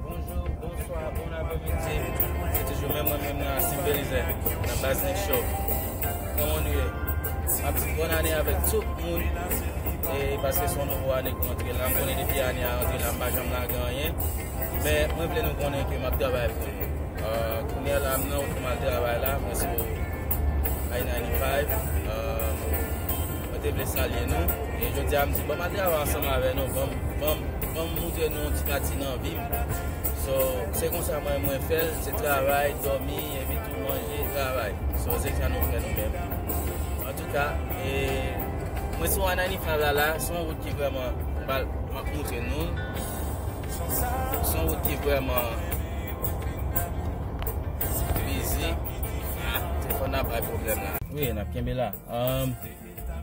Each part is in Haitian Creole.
Bonjou, bonswa, bon apremidi. Se toujou menm mwen menm nan Asim Belize, nan Baz Nik Show. Kòman nou ye? Map di bòn ane avèk tout moun. E paske son nouvo ane ki antre la, m konnen depi ane a antre la m pa janm lage anyen. Men mwen vle nou konnen ke map travay pou nou. Kounye a la m nan wout pou m al travay la, mwen sou I-95. Mwen te vle salye nou e jodi a m di banm al travay ansanm avè nou banm banm banm moutre nou yon ti pati nan vi m so se konsa mwen mwen fè l se travay dòmi epi tou manje travay so se sa nou fè nou menm antouka e mwen sou anainifnav la la se yon wout ki vrèman bal map moutre nou l se yon wout ki vrèman bizi ah telefòn nan bay pwoblèm la wi nap kenbe la. Humm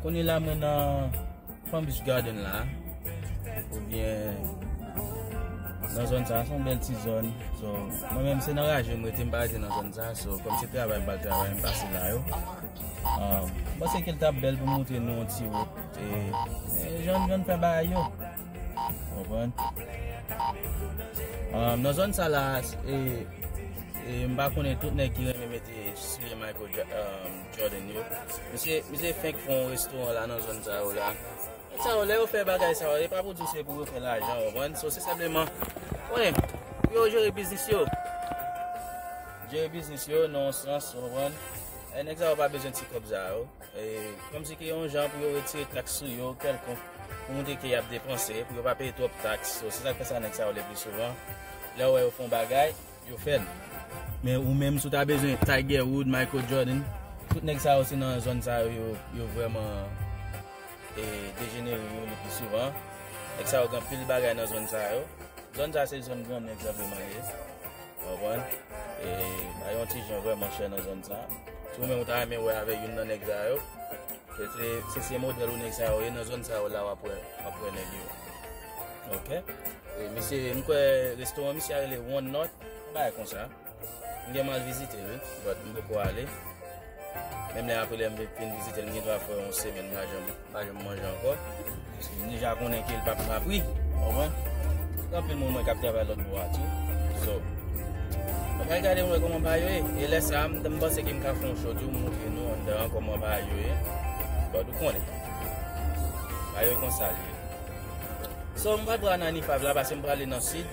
kounye la mwen nan Palm Beach Garden la ou byen nan zòn sa son bèl ti zòn so mwen menm se nan raje mwen rete m pa rete nan zòn sa so kòm se travay m pral travay m pase la yo humm m panse ke l tap bèl pou m montre nou yon ti wout e jan jan n fè bagay yo ou konprann humm nan zòn sa la e e m pa konnen tout nèg ki renmen mete soulier Michael humm Jordan yo. Misye misye fenk fè yon restoran la nan zòn sa yo la. Sa yo lè yo fè bagay sa yo, e pa pou di se pou yo fè lajan ou konprann. So se senpleman konnen pou yo jere biznis yo. Jere biznis yo nan yon sans ou konprann. E nèg sa yo pa bezwen ti kòb sa yo. E kòm si ki yon jan pou yo retire taks sou yo kèlkonk pou montre ke y ap depanse, pou yo pa peye twòp taks. So se sa k fè sa nèg sa yo le pli souvan lè ou wè yo fè yon bagay. Yo fèl. Men ou menm si w ta bezwen Tiger Wood, Michael Jordan, tout nèg sa yo se nan zòn sa yo yo vrèman dejenere yo le pi souvan. Nèg sa yo gen anpil bagay nan zòn sa yo. Zòn sa se zòn gran nèg senpleman li ye. Ou konprann? E bagay yo ti jan vrèman chè nan zòn sa. Si ou menm ou ta renmen wè avèk youn nan nèg sa yo. Se se model ou nèg sa yo ye nan zòn sa yo la wap wè wap wè nèg yo ok misye m kwè restoran misye a rele one north yon bagay konsa m gen mal vizite l wi but m poko ale menm lè aprè lè m vin vizite l m gen dwa fè yon semèn m pa janm manje ankò. Paske m deja konnen ke l pap nan pri. Ou konprann? Gen anpil moun mwen k ap travay lòtbò a tou. So, m pral gade m wè kòman bagay yo ye. E lè sa a, m ta, m panse ke m ka fè yon show tou, m montre nou anndan an kòman bagay yo ye. But ou konnen. Bagay yo konsa l ye. So, m pa pral nan Anifav la paske m prale nan Sid.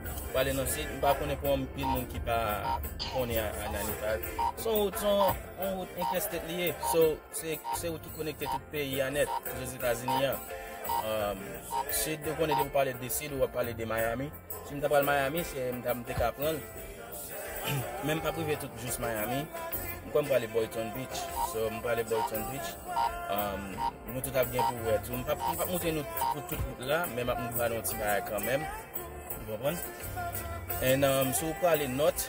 M prale nan Sid. M pa konnen pou anpil moun ki pa konnen Anifav. S on wout, s on wout entèstet li ye. So. Se ou ki konekte tout peyi an nèt, Lèzetazini an. Sid, ou konnen depi ou pale de Sid, ou ap pale de Miami. Si m ta pral Miami, se m ta m te ka pran l. Men m pa prive tout jous Miami. M kwè m prale Boyton Beach. So, m prale Boyton Beach. Nou tout ap gen pou wè tou. M pa moute nou pou tout wout la, men m ap moute nou ti baye kanmenm. Ou konprann? En, si ou prale Nòt,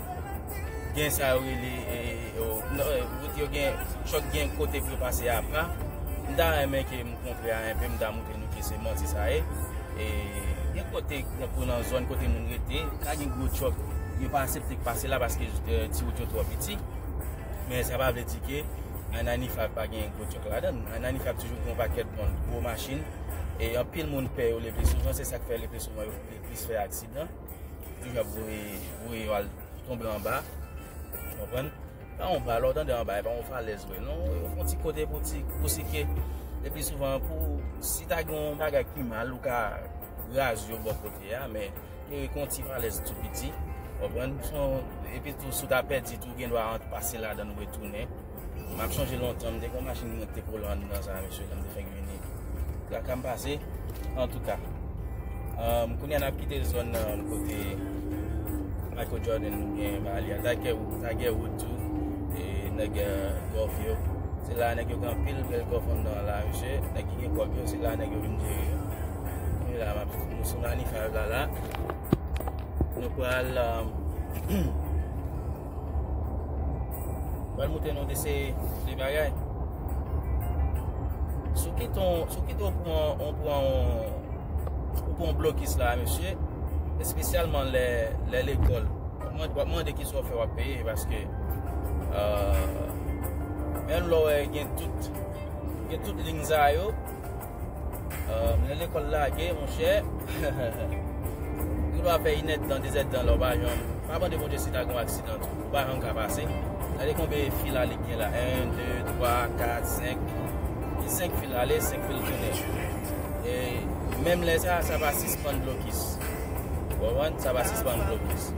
gen sa yo rele wout yo gen chòt gen kote pou yo pase a pa m ta renmen ke m kontre a enpe m ta moutre nou ke se manti sa ye e gen kote tankou nan zòn kote moun rete ta gen gwo chòt yo pa asepte k pase la paske ti wout yo twò piti men sa pa vle di ke an anifa pa gen gwo chòt la dan an anifa toujou gen yon pakèt moun gwo machin e anpil moun pè yo le pli souvan se sa k fè le pli souvan yo Plis fè aksidan, toujou ap voye voye yo al tonbe anba. Ou konprann? Pa yon ba, lò tande anba, e pa yon falèz vre non. Yo fon ti kote pou ti pou sike. E pi souvan pou si ta gen yon bagay ki mal ou ka raze yo bò kote a, men yo e kon ti falèz tou piti. Ou konprann? Son e pi tou sou ta pèdi tou gen dwa ant pase ladan ou retounen. Map sonje lontan m te kon machin mwen te ko lan nan sa mesye lèm te fèk vini traka m pase antouka um, kounya nap kite zòn nan um, kote Michael Jordan ou bien Bali a ta gen ou ta gen ou tou e nèg golf yo se la nèg yo gen pil bel golf an nan la mesye nèg ki gen kòb yo se la nèg yo vin jere e la map nou sou manifav la la nou pral um, Pral moute nou de se de bagay. Sou ki ton, sou ki ton pou an, an pou an, an pou an blokis la, mesye. Espesyalman lè, lè lekol. Mwen, mwen de ki sou fè wap peye, paske, eee, euh, menm lò wè gen tout, gen tout lingzayo. Ahh mwen lekòl lage monchè Ou dwa fè inèdtan dezèdtan la ou pa janm Pa mande Bondye si ta gen yon aksidan tou Ou pa janm ka pase Gade konbe fil ale k gen la 1, 2, 3, 4, 5 Gen 5 fil ale 5 fil tounen E menm lè sa sa pa sispann blokis Ou konprann sa pa sispann blokis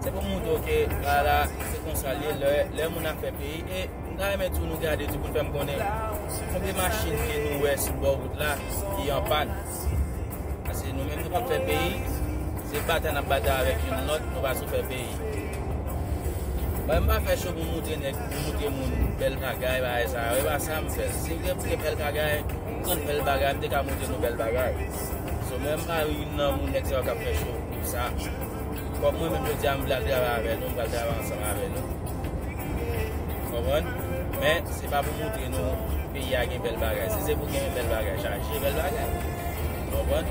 Se pou m moutre w ke ala se konsa l ye lè moun ap fè peyi e M ta renmen tou nou gade tou pou n fè m konnen konbyen machin ke nou wè sou bò wout la ki an pàn. Pase nou menm nou pap fè peyi, se batay n ap batay avèk youn lòt, nou pa sou fè peyi. Mwen m pa fè cho pou m moutre nèg, pou m moutre moun bèl bagay, bagay sa yo, e pa sa m fè. Si m te vle bèl bagay, m konn bèl bagay, m te ka moutre nou bèl bagay. So mwen m pa youn nan moun nèg sa yo k ap fè cho pou sa. Kòm mwen menm jodi a m vle al travay avè nou, m pral travay ansanm avè nou. Ou konprann? Men, se pa pou montre nou peyi a gen bèl bagay. Si se pou gen bèl bagay, chaje bèl bagay. Ou konprann?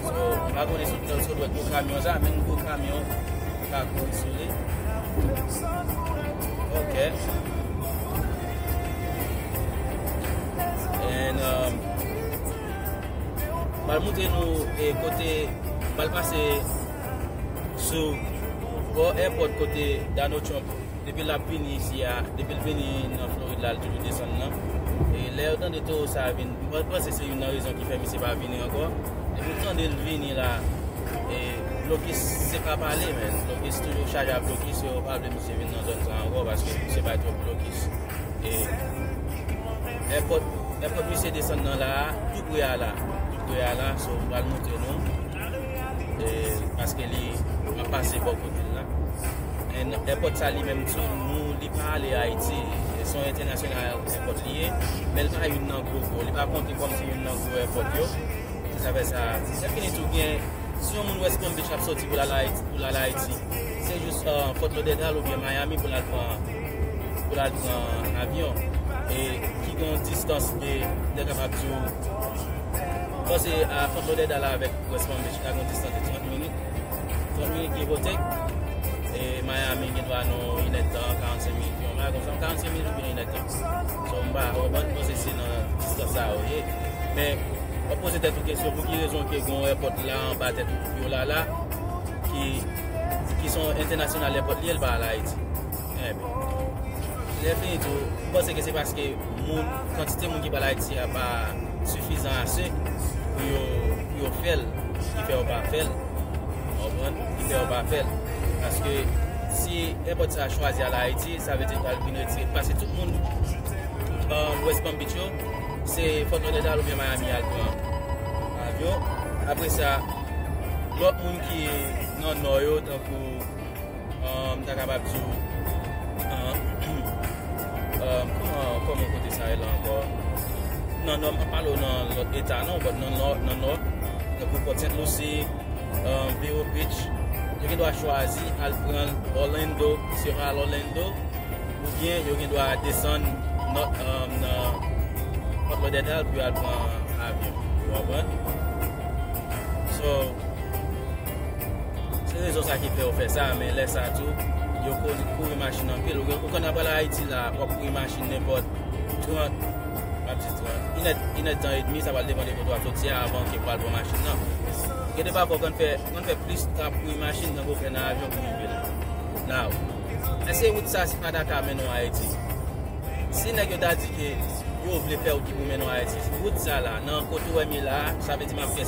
So, m pa konnen si ou te sot wè gwo kamyon sa a, menm gwo kamyon ka kouri sou li. Ok. And, um... Pral moutre nou kote pral pase sou bò èpòt kote Donald Trump depi lap vini isi a, depi l vini nan Florid la l toujou desann nan. E lè yo tande towo sa a vin, mwen panse se youn nan rezon ki fè misye pa vini ankò. Depi w tande l vini la, e blokis se pa pale men, blokis toujou chaje ak blokis yo pa vle misye vin nan zòn sa a ankò paske misye bay twòp blokis. Èpòt misye desann nan la a, tou pre a la. Tou pre a la, so m pral montre nou. Paske li ap pase bò kote l la. Èn èpòt sa li menm tou, nou li pa ale Ayiti. Son entènasyonal èpòt li ye. Men l pa youn nan gwo gwo. Li pa konte kòm se youn nan gwo èpòt yo. Se sa fè sa. Se fini tou gen, si yon moun wè Spam Beach ap sòti pou l al Ayiti, se jous Fòt Lodèdal oubyen Mayami pou l al pran. pou lal pran avyon e ki gen yon distans de mwen kapab di ou bon se a Fort Lauderdale avèk West Palm Beach la gen yon distans de 30 minit 30 minit give or take e Miami gen dwa nan yon inèd tan 45 minit yon bagay konsa 45 minit oubyen yon inèd tan so m pa konprann mwen panse se nan distans sa yo ye men wap poze tèt ou kesyon pou ki rezon ke gen yon èpòt la anba tèt ou yo la la ki ki son entènasyonal lè pòt li el pa al ayiti enben lè fini tou m panse ke se paske moun kantite moun ki pa al ayiti a pa sifizan ase pou yo pou yo fèl ki fè yo pa fèl konprann ki fè yo pa fèl paske si enpòt sa chwazi al ayiti sa vle di pral vin retire paske tout moun an west palm beach yo se fòt lòdèdal oubyen miami yal pran avyon apre sa lòt moun ki nan nò yo tankou m ta kapab di w kòman kote sa rele ankò nan nò m pa pale w nan lòt eta non bòt nan nò tankou pòt sent lousi vero bridge yo gen dwa chwazi al pran òlendo si yo pa al òlendo oubyen yo gen dwa desann nan fòt lòdèdal pou yo al pran avyon ou konprann so Se rezon sa ki fè yo fè sa, men lè sa tou, yo konn kouri machin anpil. Ou konn nan pral Ayiti la, wap kouri machin nenpòt 30, map di 30, inèd, inèd tan edmi, sa pral depan de kote wap soti a avan ke pral pran machin nan. Gen de pafwa ou konn fè, ou konn fè plis tan ap kouri machin tanke ou fè nan avyon pou rive la. Now, èske wout sa se pa ta ka mennen w Ayiti? Si nèg yo ta di ke yo vle fè wout ki pou mennen w Ayiti, wout sa la, nan kote ou wè mi la, sa vle di map fè.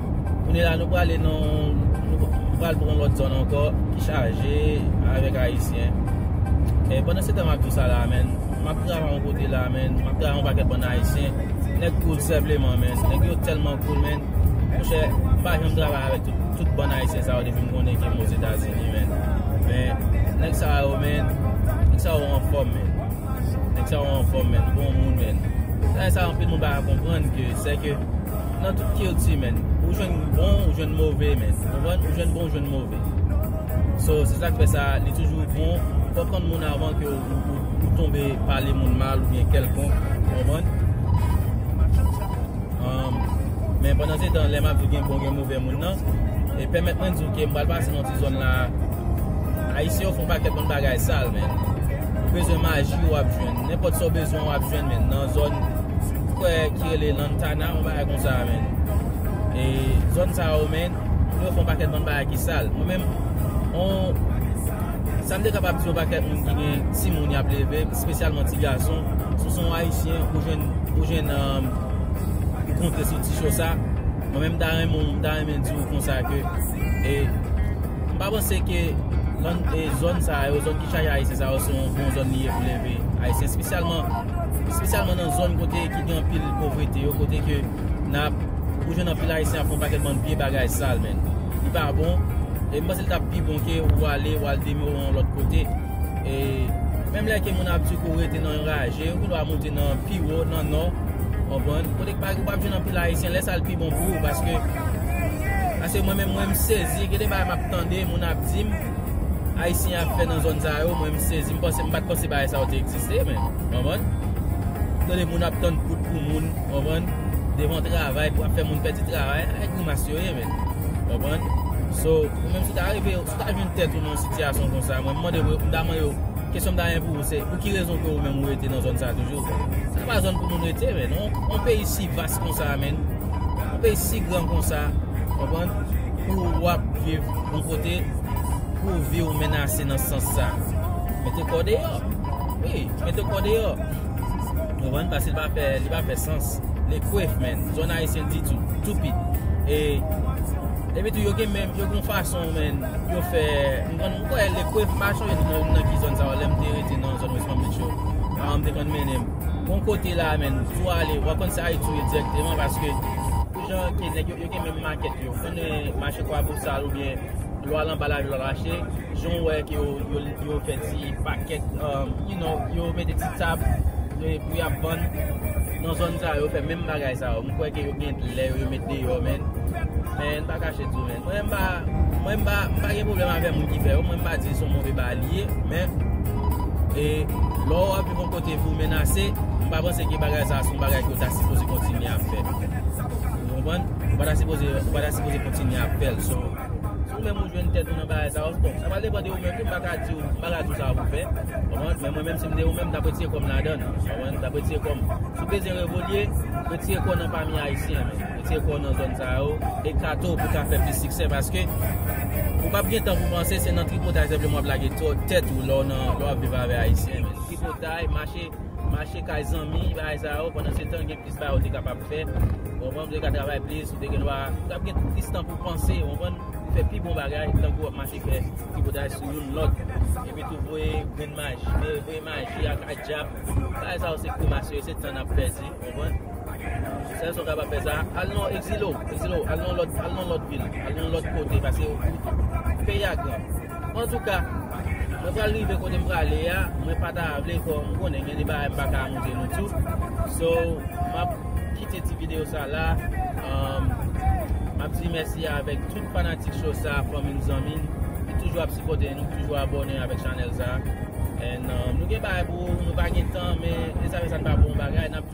Kounye la nou prale nan Nou pral pran yon lòt zòn ankò Ki chaje avèk ayisyen E pandan se tan map di sa la menn Map travay yon kote la menn Map travay yon pakèt bann ayisyen Nèg koul sèpleman menn Nèg yo tèlman koul menn Monchè pa janm travay avèk tout Tout bann ayisyen sa yo depi m konnen ke m ozetazini menn Men Nèg sa yo menn Nèg sa yo anfòm menn Nèg sa yo anfòm menn Bon moun menn Sa e sa anpil moun pa ka konprann ke Sèke nan tout kilti menn ou jwenn bon ou jwenn move menn konprann ou jwenn bon ou jwenn move so se sak fè sa li toujou bon pou konn moun avan ke ou tonbe pale moun mal ou byen kelkon konprann men pandan se tan lè map di gen bon gen move moun nan e pèmèt mwen di ou ke m pral pase nan ti zòn la ayisyen yo fon pa kèt moun bagay sal menn ou bezwen maji wap jwenn nenpòt sa ou bezwen wap jwenn menn nan zòn Frè ki rele Lantana yon bagay konsa menn e zòn sa yo menn pou yo fè yon pakèt bann bagay ki sal mwen menm yon sa m te kapab di yon pakèt moun ki gen timoun y ap leve espesyalman ti gason si w se yon ayisyen ou jwenn ou jwenn ou konte sou ti cho sa mwen menm m ta renmen w m ta renmen di w konsa ke e m pa panse ke zòn sa yo zòn ki chaje ayisyen sa yo se yon bon zòn li ye pou leve ayisyen espesyalman Espesyalman nan zòn kote ki gen anpil povrete yo, kote ke nap, ou jwenn anpil ayisyen ap fè yon pakèt bann vye bagay sal menn. Li pa bon, e m panse li tap pi bon ke ou ale, ou al demere yon lòt kote. E menm lè ke moun ap di ke ou rete nan yon raje, ou gen dwa moute nan pi wo, nan nò, konprann. Kote ke ou pap jwenn anpil ayisyen, lè sa li pi bon pou ou paske, paske mwen menm mwen m sezi, gen de bagay map tande moun ap di m. Ayisyen ap fè nan zòn sa yo mwen m sezi m panse m pat panse bagay sa yo te egziste men w konprann tande moun ap tann kout pou moun w konprann devan travay pou ap fè moun pèdi travay a e grimas yo ye men w konprann so ou menm si w ta rive si w ta jwenn tèt ou nan yon sitiyasyon konsa mwen m mande vre m ta mande yo kesyon m ta gen pou ou se pou ki rezon ke ou menm ou rete nan zòn sa toujou sa pa zòn pou moun rete men non yon peyi si vas konsa menn yon peyi si gran konsa w konprann pou w ap viv Yon kote pou vi w menase nan sans sa. Mete kò deyò. Wi, mete kò deyò. Ou konprann? Paske li pa fè, li pa fè sans. Le kwef menn. Zòn Ayisyen di tou. Toupi. E, epi tou yo gen menm, yo gen yon fason menn, yo fè, ou konprann? M kwè le kwef, m pa chonje tou non nan ki zòn sa yo. Lè m te rete nan zòn West Palm Beach yo. Paran m te konn mennen m. Gon kote la menn, si w ale, w ap konn se Ayiti w ye dirèkteman paske. Pou jan ke nèg yo, yo gen menm makèt. Yo konnen mache Kwabosal oubyen lwa lanba lari lwa rache, jan w wè ke yo fè ti pakèt, you know, yo mete ti tab pou y ap vann. Nan zòn sa yo, yo fè menm bagay sa yo. M kwè ke yo gen lè yo met deyò men. Men, m pa kache di w men. Mwen m pa, mwen m pa, m pa gen pwoblèm avè moun ki fè yo. Mwen m pa di se yon move bagay li ye. Men, e, lò w ap viv yon kote pou w menase, m pa panse ke bagay sa a se yon bagay ke w ta sipoze kontinye ap fè. Ou konprann? Ou pa ta sipoze, ou pa ta sipoze kontinye ap fèl. So, si ou menm ou jwenn tèt ou nan bagay sa, bon, sa pral depan de ou menm tou, m pa ka di ou, m pa ka di ou sa pou w fè. Ou konprann? Men mwen menm si m te ou menm, m t ap retire kò m ladan l. Ou konprann? M t ap retire kò m. Si w bezwen revolye, retire kò w nan pami Ayisyen, men. Retire kò w nan zòn sa yo. Ekate w pou w ka fè plis siksè paske ou p ap gen tan pou w panse se nan tripotay senpleman w ap lage tèt ou lè w nan, lè w ap viv avè Ayisyen, men. Tripotay, mache. Mache kay zanmi, bagay sa yo, pandan se tan gen plis bagay ou te kapab fè, ou konprann, ou te ka travay plis, ou te gen dwa, ou tap gen plis tan pou panse, ou konprann, pou fè pi bon bagay, tankou wap mache fè tripotay sou youn lòt, epi tou voye grenn maji, voye maji ak dyab, bagay sa yo se grimas yo, se tan nap pèdi, ou konprann, sèl sa ou kapab fè sa, al nan ekzile w, ekzile w, al nan lòt, al nan lòt vil, al nan lòt kote, pase ou, peyi a gran. Antouka, mwen pral rive kote m prale a, mwen pa ta vle fè m konnen gen de bagay m pa ka montre nou tou. So, m ap kite ti videyo sa la. M ap di mèsi avèk tout fanatik show sa, fanmi m, zanmi m, ki toujou ap sipòte nou, ki toujou abòne avèk chanèl sa. And, nou gen bagay pou ou, nou pa gen tan, men, e sa fè sa n pa pou yon bagay, n ap.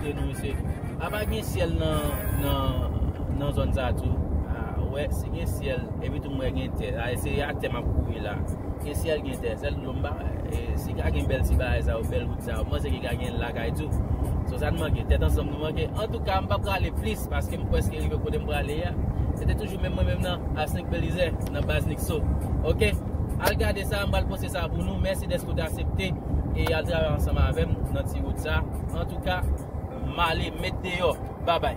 Te nou se Apa gen syèl nan zòn sa tou Ou wè si gen syèl Epi tou m wè gen tè a Se ak tè m ap kouri la Gen syèl gen tè Sèl dlo m pa wè Si ka gen bèl ti bagay sa yo Bèl wout sa yo M panse ki ka gen lakay tou So sa n manke Tèt ansanm nou manke Antouka m pa prale plis Paske m prèske rive kote m prale a Se te toujou menm mwen menm nan Asnk Belize Nan baz Nikso Ok Al gade sa M pral poste sa pou nou Mèsi dèske ou te asepte. e yal travay ansanm avèm nan ti wout sa antouka male met deyò babay.